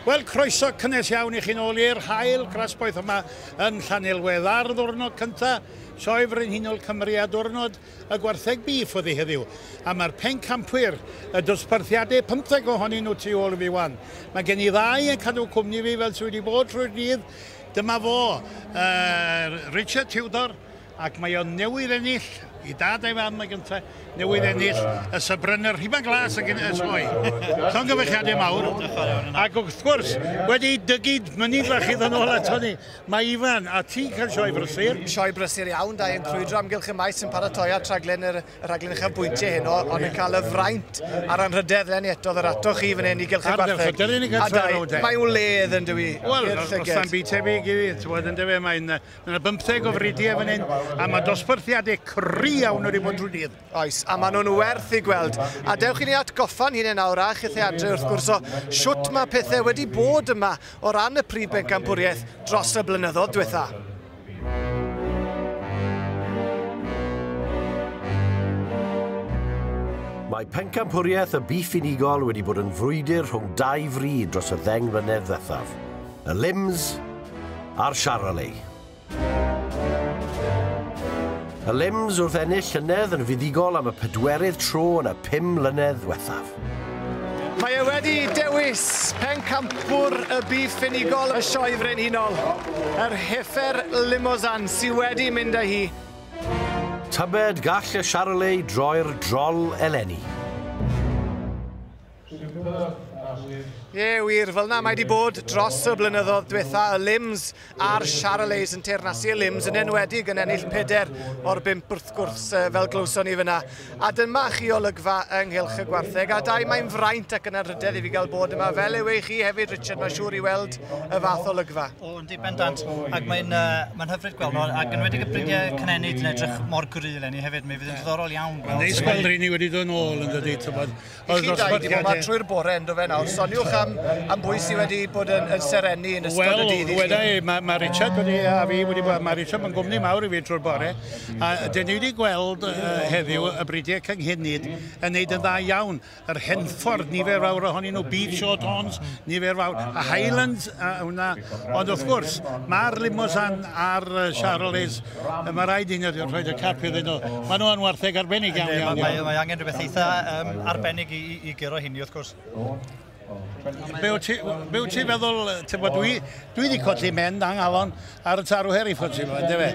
Wel, croeso cynnes iawn i chi'n ôl i'r hael grasboeth yma yn Llanelwedd ar ddwrnod cyntaf Sioe Frenhinol Cymru a diwrnod y gwartheg bîff oddi heddiw. A mae'r pencampwyr, y dosbarthiadau 50 ohonyn nhw tu ôl i fi wan. Mae gen i ddau yn cadw cwmni fi fel sydd wedi bod trwy'r dydd. Dyma fo, uh, Richard Tudor, Ac mae o newydd ennill, i dad a'i fam y gynta, newydd ennill y Sybrenner Rhuban Glas ac yn y sioe. Llongyfechiadau mawr. Ac wrth gwrs, wedi dygu mynydd fach i ddod nôl ato ni, mae Ifan a ti'n cael sioe brysur. Sioe brysur iawn, da i'n crwydro amgylch y maes yn paratoi at rhaglen yr, y rhaglen uchafbwyntiau heno, ond yn cael y fraint a'r anrhydedd lenni eto ddod ato chi fan hyn i gylch y gwartheg. A da, mae wledd yn dywi. Wel, os am byd tebyg i fi, ti'n bod yn dywe, mae'n Mae 'na bymtheg o fridiau fan hyn, a mae dosbarthiadau cry iawn wedi bod drwy dydd. Oes, a maen nhw'n werth i gweld. A dewch i ni atgoffa'n hyn yn awr a chithau adre wrth gwrs o shwt mae pethau wedi bod yma o ran y prif bencampwriaeth dros y blynyddoedd diwetha. Mae pencampwriaeth y Bîff Unigol wedi bod yn frwydr rhwng dau fri dros y ddeng mlynedd ddethaf. y limbs a'r charolais. Y limbs wrth ennill llynedd yn fuddugol am y pedwerydd tro yn y pum mlynedd ddiwethaf. Mae e wedi dewis pencampwr y byd ffinigol y Sioe Frenhinol, yr Heifer Limousin sydd wedi mynd â hi. Tybed gall y charolais droi'r drol eleni? Ie, wir, fel na mae wedi bod dros y blynyddoedd diwetha y Lims a'r Charolais yn teirnasu y Lims yn enwedig yn ennill peder o'r bimp wrth gwrs fel glywson ni fyna. A dyma chi olygfa yng nghylch y gwartheg a dau mae'n fraint ac yn anrhydedd i fi gael bod yma fel yw ei chi hefyd Richard, mae'n siŵr i weld y fath olygfa. O, yn di bendant, ac mae'n uh, mae hyfryd gweld nhw, ac yn wedi gybriniau cynenid yn edrych mor gryl enni hefyd, mi fydd yn ddiddorol iawn. Mae'n neis gweld rhywun i wedi dod yn ôl yn dydy, tybod. I chi dau, di bod ma trwy'r bore yn do fe nawr. Soniwch am, am bwy sydd wedi bod yn, yn serennu yn ystod well, y dydd i chi. Wel, mae ma Richard wedi, a fi wedi bod, mae Richard yn gwmni mawr i fi trwy'r bore. A dyn ni wedi gweld uh, heddiw y bridiau cynghenid yn neud yn dda iawn. Yr Henffordd, nifer fawr ohonyn nhw, Beach Short Horns, nifer fawr, a Highlands, a hwnna. Ond wrth gwrs, mae'r Limosan a'r Charolais Yy ma' raid i ni rh- rhoid y cap iddyn nhw. Ma' nhw yn wartheg arbennig iawn iawn iawn. Mae mae angen rhywbeth eitha yym arbennig i i i guro hynny wrth gwrs. Be' wyt ti w- be' wyt ti'n feddwl yy t'mod dwi dwi 'di colli mend a nghalon ar y tarw heriford ti wbod yndyfe?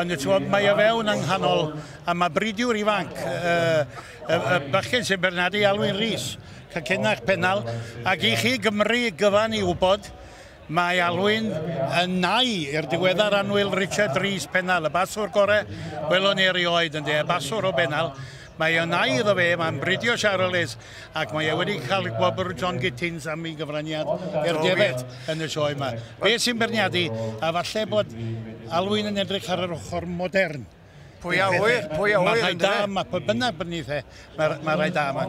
Ond yy t'mod mae o fewn yng nghanol a ma' bridiwr ifanc yy y y bachgen sy'n bernadu Alwyn Rees, cacenach pennal ac i chi Gymru gyfan i wbod Mae Alwyn yn nau i'r diweddar annwyl Richard Rees Pennal, y baswr gore welon ni erioed ynde, y baswr o Bennal. Mae yn nau iddo fe, mae'n bridio Charles ac mae e wedi cael gwobr John Gittins am ei gyfraniad i'r defaid yn y sioe yma. Be sy'n beirniadu a falle bod Alwyn yn edrych ar yr ochr modern? Pwy a ŵyr, pwy a ŵyr. Mae rhai da yma, pwy bynnag bod ni the, mae, mae rhai da yma.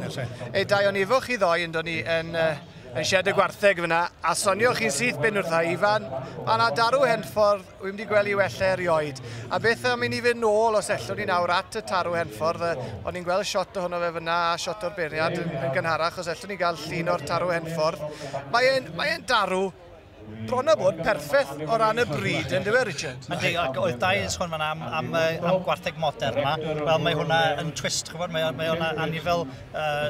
Ei dau o'n ifo chi ddoi yn dod ni yn, uh, yn sied y gwartheg fyna, a sonio chi'n syth ben wrtha i, fan, mae yna darw henffordd, wy'n wedi gweld i wella erioed. A beth am i ni fynd nôl os ellwn ni nawr at y tarw henffordd, o'n i'n gweld shot ohono fe fyna a shot o'r beirniad yn, yn gynharach, os ellwn ni gael llun o'r tarw henffordd. Mae'n mae darw bron a bod perffeth o ran y bryd, yn dywe, Richard? Yndi, ac oedd da i sôn fan am, am, am gwartheg modern yma. Wel, mae hwnna yn twist, chybod, mae, mae o'n anifel uh,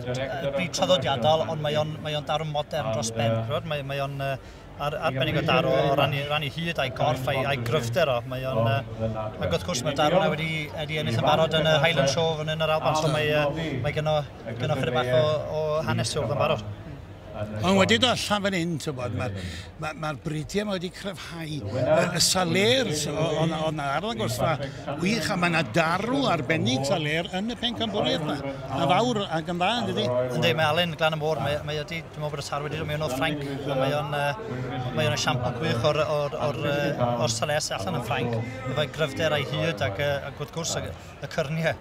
bryd traddodiadol, ond mae o'n mae daro modern dros ben, chybod, mae, mae o'n uh, ar, arbennig o daro o ran i, ran i hyd a'i gorff a'i, ai gryfder o. Mae o'n, uh, ac wrth gwrs mae daro yna wedi, wedi ennill yn barod yn y Highland Show yn yr Alban, so mae, uh, mae gyno, gyno chyda bach o, o hanes wrth yn barod. Ond wedi dod allan fan hyn, tybod, mae'r ma, ma bridiau yma wedi cryfhau y saler o'n na arddangos fa wych, a mae yna darw arbennig saler yn y pen pencampwriaeth yma, a fawr ac yn dda, ydy? Ynddi, mae Alun Glan y Môr, mae, mae ydi, dwi'n meddwl bod y tar wedi dod mewn o'r Ffrainc, mae o'n uh, mae o'n esiampl gwych o'r, or, or, or, or sales allan yn Ffrainc, efo'i gryfder a'i hyd ac, uh, ac wrth gwrs y, y cyrniau.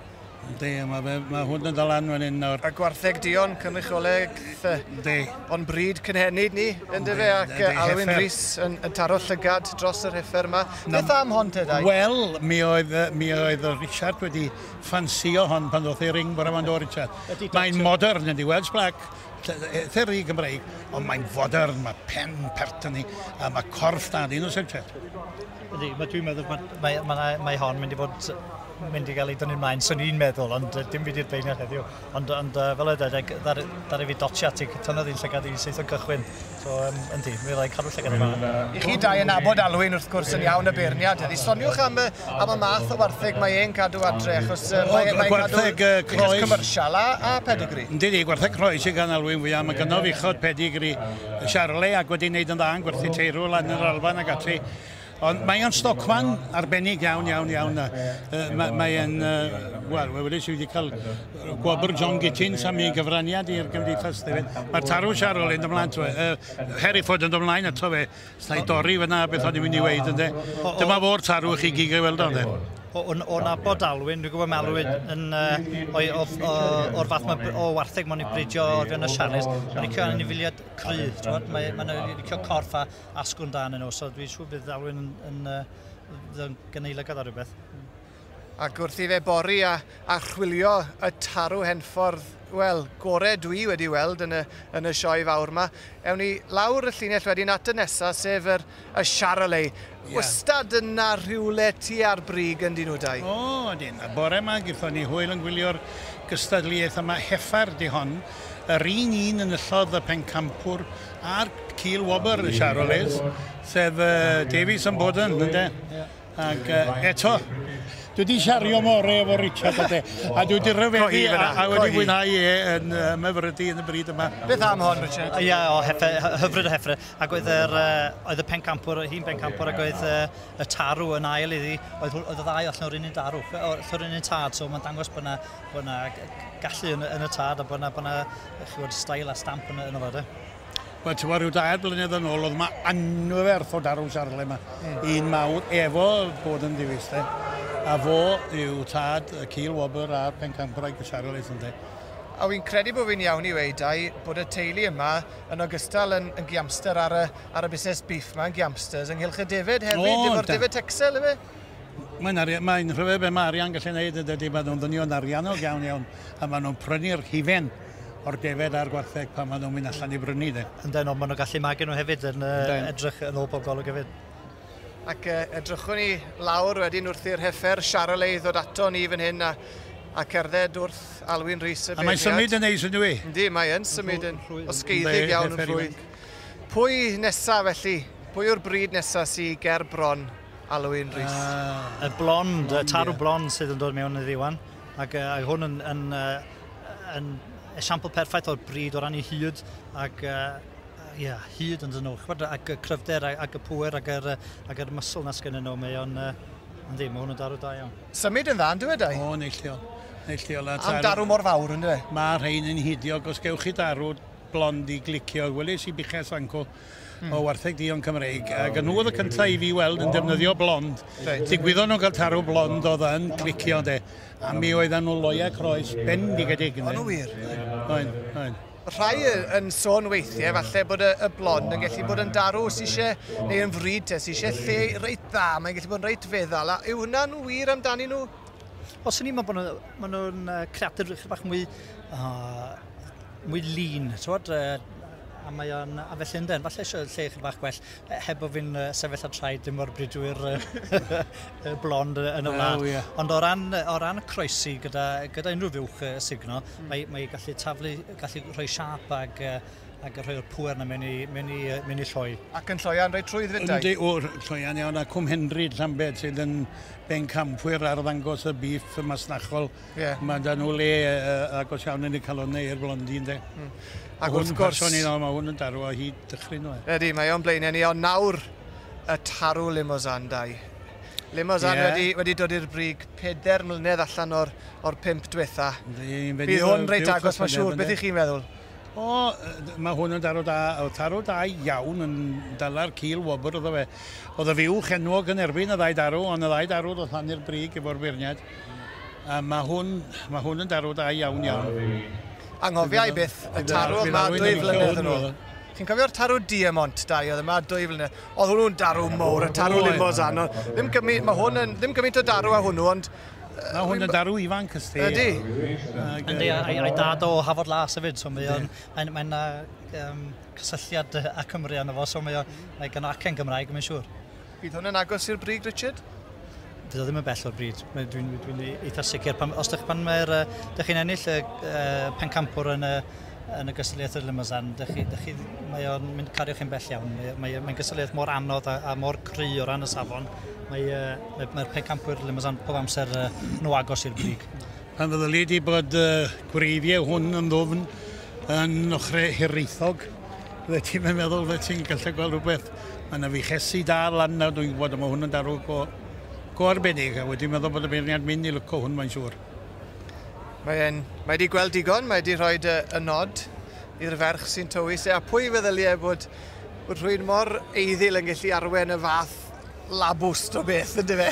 Yndi, mae fe, mae hwn yn ddalan fan hyn nawr. A gwartheg Dion, cynrychioleg the. Yndi. O'n bryd cynhenid ni, yn dyfe, ac uh, Alwyn Rhys yn, yn taro llygad dros yr heffer yma. Na, Beth am hon te, dau? Wel, mi oedd, mi oedd Richard wedi ffansio hon pan ddoth ei ring bora fan do, Richard. Mae'n modern, yndi, Welsh Black theri Gymraeg, ond mae'n fodern, mae pen pertyn ni, a mae corff da, dyn nhw'n sefyll. Ydy, mae dwi'n meddwl bod mae, mae, mae, mae hon mynd i fod mynd i gael ei dynnu ymlaen, sy'n ni'n meddwl, ond uh, dim fi di'r beirniad heddiw. Ond, ond uh, fel oedde, ddari e fi dotio ati, tynnodd i'n llygad i syth o'n cychwyn. So, um, yndi, mi fyddai'n cadw llygad yma. I chi dau yn abod Alwyn, wrth gwrs, yn iawn y beirniad. Ydy, soniwch am, am y math o wartheg mae e'n cadw adre, achos uh, mae, mae cadw croes commercial a, a pedigree. Yndi, di, gwartheg croes sy'n gan Alwyn fwyaf. Mae gynnof uchod pedigree Charlie ac wedi wneud yn dda yn gwerthu teirw lan yr Alban ac ati. Ond mae o'n stocman arbennig iawn, iawn, iawn. Mae, mae e'n, wel, we wedi sydd wedi cael gwobr John Gittins am ei gyfraniad i'r gymdeithas. Mae'r tarw siarol yn ymlaen, twe. Uh, Harry Ford yn ymlaen ato fe. Snau dorri fyna beth o'n i'n mynd i weid, ynddo. Dyma fo'r tarw chi gig ei weld o'n e o'n o nabod Alwyn, dwi'n gwybod mae Alwyn yn, uh, o'r fath mae, o wartheg mae'n ei bridio o'r fewn y siares, mae'n licio anifiliad cryf, mae'n mae, mae licio corff a asgwrn da yn nhw, so dwi'n siŵr bydd Alwyn yn, yn, yn, yn gyneilygad ar rhywbeth. Ac wrth i fe bori a, a chwilio y tarw henffordd, wel, gore dwi wedi weld yn y, yn y sioe fawr yma, ewn ni lawr y llinell wedyn at y nesaf, sef yr, y Charolais. Yeah. Wastad yna rhywle tu ar brig yn dyn nhw dau. O, oh, ydyn. A bore yma, gyda ni hwyl yn gwylio'r gystadleuaeth yma, heffair di hon, yr un un enillodd y pencampwr a'r cil wobr, Siaro Liz, sef uh, Davies yn bod yn, ynde? Ac uh, eto, dwi wedi siario more efo Richard ydde, a dwi wedi rhyfeddu a, a wedi mwynhau e yn uh, myfrydu yn y bryd yma. Beth am hon, Richard? Ia, o, hefe, hyfryd o hefre. Ac oedd, yr, uh, oedd y pencampwr, hi'n bencampwr, ac oedd uh, y tarw yn ail iddi, oedd, oedd y ddau allan o'r un un darw, o'r un un tad, so mae'n dangos bod yna bod yna gallu yn, yn y tad a bod yna, bod yna chywod, stael a stamp yn, yn y fod. Wel, ti'n rhyw dair blynedd yn ôl, oedd yma anferth o darw siarle yma. Mm. Un mawr, efo bod yn ddiwys, de. A fo yw tad y Cil Wobr a'r Pencampwraig y siarle, sy'n de. A fi'n credu bod fi'n iawn i weid ai bod y teulu yma yn ogystal yn, yn giamster ar y, ar y busnes beef yma, yn giamsters, ynghylch y defed hefyd, oh, efo'r defed Texel, efe? Mae'n arian, mae'n rhyfedd be mae arian gallu gwneud yn dydy, maen nhw'n ddynion ariannog iawn iawn a maen nhw'n prynu'r hufen o'r defed a'r gwartheg pan maen nhw'n mynd allan i brynu de. Yndyn, ond maen nhw'n gallu magu nhw hefyd yn uh, edrych yn ôl pob golwg hefyd. Ac uh, edrychwn ni lawr wedyn wrth i'r heffer Charolais ei ddod ato ni fan hyn a, a cerdded wrth Alwyn Rhys y beirniad. A mae'n symud yn neis ydw i? Yndi, mae yn symud yn osgeiddig iawn yn rhwydd. Pwy nesaf felly? Pwy yw'r bryd nesaf sy'n ger bron? Alun Rees. Ah, y blond, y tarw blond sydd yn dod mewn iddi wan. Ac uh, hwn yn, yn, uh, yn esiampl perffaith o'r bryd o ran ei hyd ac uh, yeah, hyd yn dyn nhw, ac y cryfder ac y pwer ac yr, ac yr muscle na sgyn nhw, mae o'n, uh, yndi, mae hwn yn darw da iawn. Symud yn dda, yn dweud ei? O, neillio. Neillio. Am darw mor fawr, yn dweud? Mae rhain yn hidio, os gewch chi darw blond i glicio, welis i buches fanco, o wartheg duon Cymreig, oh, ac nhw oedd y cyntaf i fi weld yn defnyddio blond. Right. Digwyddo'n nhw'n cael tarw blond oedd yn clicio, de. A mi oedd nhw loia croes bendigedig. O'n nhw wir? Oen, oen. Rhai yn sôn weithiau falle bod y, y blond yn gallu bod yn darw sy'n eisiau, neu yn fryd te, sy'n eisiau lle reit dda, mae'n gallu bod yn reit feddal. A yw hwnna'n wir amdani nhw? Os yn ni'n meddwl bod nhw'n creadur rhywbeth bach mwy, uh, mwy lean, tywed, uh, a mae o'n... A felly ynden, falle eisiau lle chydig bach gwell, e, heb bod fi'n uh, sefyll a traed dim o'r bridwyr uh, blond yn y wlad. Oh, yeah. Ond o ran, o ran croesi gyda, gyda unrhyw fiwch uh, signo, mm. mae, mae gallu taflu, gallu rhoi siap ag, uh, ag rhoi o'r pwer na mewn i, mewn i, uh, mewn i lloi. Ac yn lloian rei trwy ddydau? Yndi, o, lloian iawn, a Cwm Henry, Llambed, sydd yn ben campwyr ar ddangos y bif masnachol Yeah. Mae da nhw le uh, agos iawn yn y calonnau i'r blondi, ynddo. Mm. Ac wrth gwrs... Hwn yn mae hwn yn darw o hyd dychryn nhw. E. Ydy, mae o'n blaenau ni, ond nawr y tarw Limousin dau. Limousin yeah. wedi, wedi dod i'r brig peder mlynedd allan o'r, or pimp diwetha. Bydd hwn reit agos, mae'n siŵr. Beth i chi'n meddwl? O, mae hwn yn darw da, o tarw da iawn yn dala'r cil wobr oedd fe. Oedd y fiwch enwog yn erbyn y ddau darw, ond y ddau darw ddoth lan i'r brig efo'r beirniad. A ma' hwn ma' hwn yn darw da iawn iawn. Anghofia i byth y tarw yma dwy flynedd yn ôl. Chi'n cofio'r tarw Diamont da i oedd yma dwy flynedd? Oedd hwnnw'n darw mowr, y tarw Limousin. Ddim gymi- ma' hwn yn ddim gymint o darw a hwnnw ond Ma' hwn yn darw ifanc ys ti. Ydi. Yndi a- a'i a'i dad o Hafod Las efyd so mae o'n mae'n mae'n yy yym cysylltiad yy â Cymru arno fo so mae o mae gynno acen Gymraeg mae'n siŵr. Bydd hwn yn agos i'r brig, Richard? Bydd o ddim yn bell o'r brig. Dwi'n dwi, dwi, dwi eitha sicr. Pan, os ydych pan mae'r... Dych chi'n ennill y uh, pencampwr yn y yn y gystadleuaeth yr Limousin, mae o'n mynd cario chi'n bell iawn. Mae'n mae, mae gystadleuaeth mor anodd a, a mor cry o ran y safon. Mae, uh, mae, mae'r pencampwyr Limousin pob amser uh, nhw agos i'r brig. Pan fyddyli di bod uh, gwreiddiau hwn yn ddwfn yn ochrau hiraethog, Fyddet ti'n yn meddwl fyddet ti'n gallu gweld rhywbeth. Mae yna fuchesi da lan nawr, dwi'n gwybod, mae hwn yn darw go, go arbennig, a wedi meddwl bod y beirniad mynd i lyco hwn, mae'n siŵr. Mae, mae wedi gweld digon, mae wedi rhoi y, y nod i'r ferch sy'n tywys e, a pwy feddyliau bod, bod rhywun mor eiddil yn gallu arwen y fath labwst o beth, ynddo fe?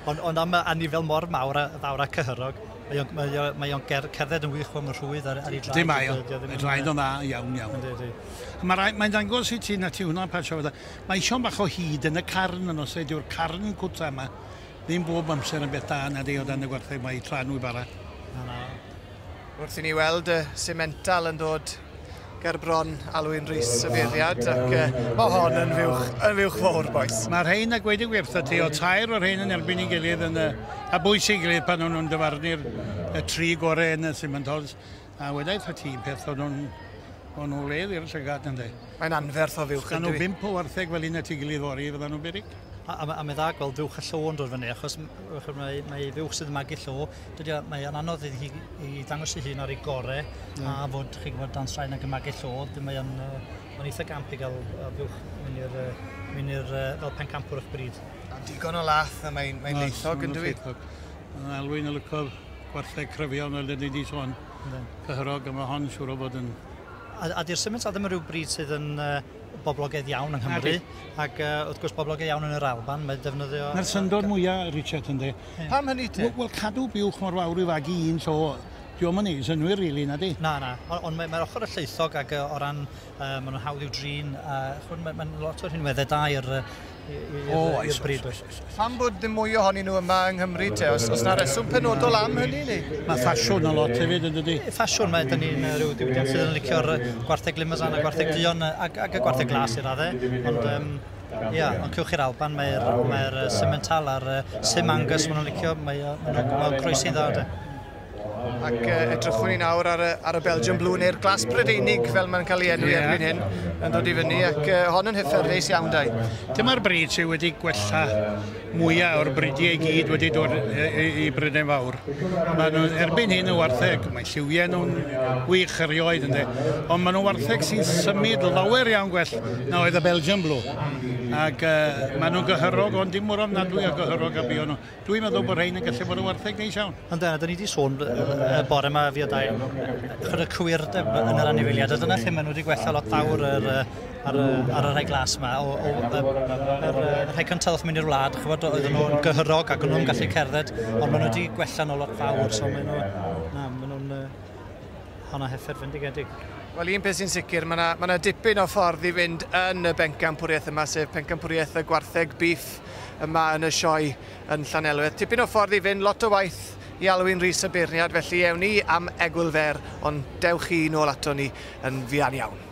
Ond ond am y anifail mor mawr a fawr a cyhyrog, mae o'n mae o mae o'n ger- cerdded yn wych mewn rhwydd ar ar ei draed... Yndi mae o. Mae draed o'n dda iawn iawn. Yndi yndi. A ma' rai- mae'n dangos i ti na ti hwnna pa tro fydda. Mae eisiau bach o hud yn y carn yn os dyw'r carn cwta yma ddim bob amser yn beth da nadi o dan y gwartheg mae ei tra nhw i bara. Na na. Wrth i ni weld y simental yn dod ger bron Alwyn Rees y Beiriad ac yy ma' hon yn fuwch yn fuwch fawr bois. Mae'r rhain a gweud y gwir wrtha ti, o tair o'r rhain yn erbyn ei gilydd yn y, a bwys ei gilydd pan o'n nhw'n dyfarnu'r y tri gore yn y Simantals, a wedai wrtha ti un peth o'n nhw'n o'n nhw wledd i'r llygad ynde. Mae'n anferth o fuwch yndyw i? Os gael nhw bimp o wartheg fel un at ei gilydd fory fyddan nhw'n beryg. A, a, a mae dda gweld fuwch y llo yn dod fyny achos mae, mae fuwch sydd yn magu llo Dydy o, mae o'n anodd iddi hi i ddangos ei hun ar ei gore, mm. a fod, chi'n gwybod, dan straen ag ymagu llodd, mae o'n uh, eitha gamp i gael uh, buwch mynd i'r uh, mynd i'r uh, fel pencampwr o'ch bryd. A digon o lath, a mae'n mae leithog yn dwi. Mae'n alwyn y lyco gwartheg cryfion fel dyn ni wedi sôn. Cyhyrog, a mae hon siŵr o bod yn... A, a di'r symud sa ddim yn rhyw bryd sydd yn uh, boblogaidd iawn yng Nghymru, ac uh, wrth gwrs boblogaidd iawn yn yr Alban, mae defnyddio... Mae'r syndod mwyaf, Richard, ynddi, Ie. Pam hynny te? Wel cadw buwch mor fawr i fagu un so dio'm yn neud synnwyr rili, nadi? Na, na. O- ond mae mae'r ochr y llaethog ag yy o ran yy ma' nw'n hawdd i'w drin a ch'mod ma' ma'n lot o rhinwedde da i'r yy i- i- i'r yy... O oes. ...i'r bryd does? Oes oes oes. Pam bod ddim mwy ohonyn nhw yma yng Nghymru te? O's o's 'na reswm penodol am hynny neu? Ma' ffasiwn yn lot hefyd yndydi? Ie ffasiwn mae 'dyn ni'n yy ryw diwydiant sydd yn licio'r yy gwartheg limousin a gwartheg duon yy ag ag y gwartheg glas i radde ond yym Ia, ond cewch chi'r Alban, mae'r mae uh, Simmental a'r uh, Sim Angus maen nhw'n licio, mae uh, nhw'n gweld croesi dda de. Ac uh, edrychwn ni nawr ar y, ar y Belgian Blue neu'r glas Brydeinig fel mae'n cael ei enw yeah. erbyn hyn yn dod i fyny ac uh, hon yn hyfforddus iawn dau. Dyma'r bryd sydd wedi gwella Mwyaf o'r bridiau i gyd wedi dod i Brydain Fawr. Mae nhw erbyn hyn yn wartheg, mae lliwiau nhw'n wych erioed ynddo, ond mae nhw wartheg sy'n symud lawer iawn gwell na oedd y Belgian Blue. Ac uh, mae nhw'n gyhyrog, ond dim mor ofnadwy o gyhyrog a bio nhw. Dwi'n meddwl bod rhain yn gallu bod yn wartheg neis iawn. Ond dyna, dyn ni wedi sôn y bore yma fi o dau, chod y cwyrdeb yn yr anifeiliad, a dyna lle maen nhw wedi gwella lot fawr yr, ar y, ar y rhai glas yma, o, o, o, yr rhai cyntaf wrth mynd i'r wlad, chybod, oedd nhw'n gyhyrog ac o'n nhw'n gallu cerdded, ond maen nhw wedi gwella nhw lot fawr, so maen nhw, na, maen nhw'n uh, honna heffer fendigedig. Wel, un peth sy'n sicr, mae yna ma na dipyn o ffordd i fynd yn y bencampwriaeth yma, sef pencampwriaeth y gwartheg biff yma yn y sioe yn Llanelwedd. Tipyn o ffordd i fynd, lot o waith i Alwyn Rhys y beirniad, felly ewn ni am egwyl fer, ond dewch chi nôl ato ni yn fuan iawn.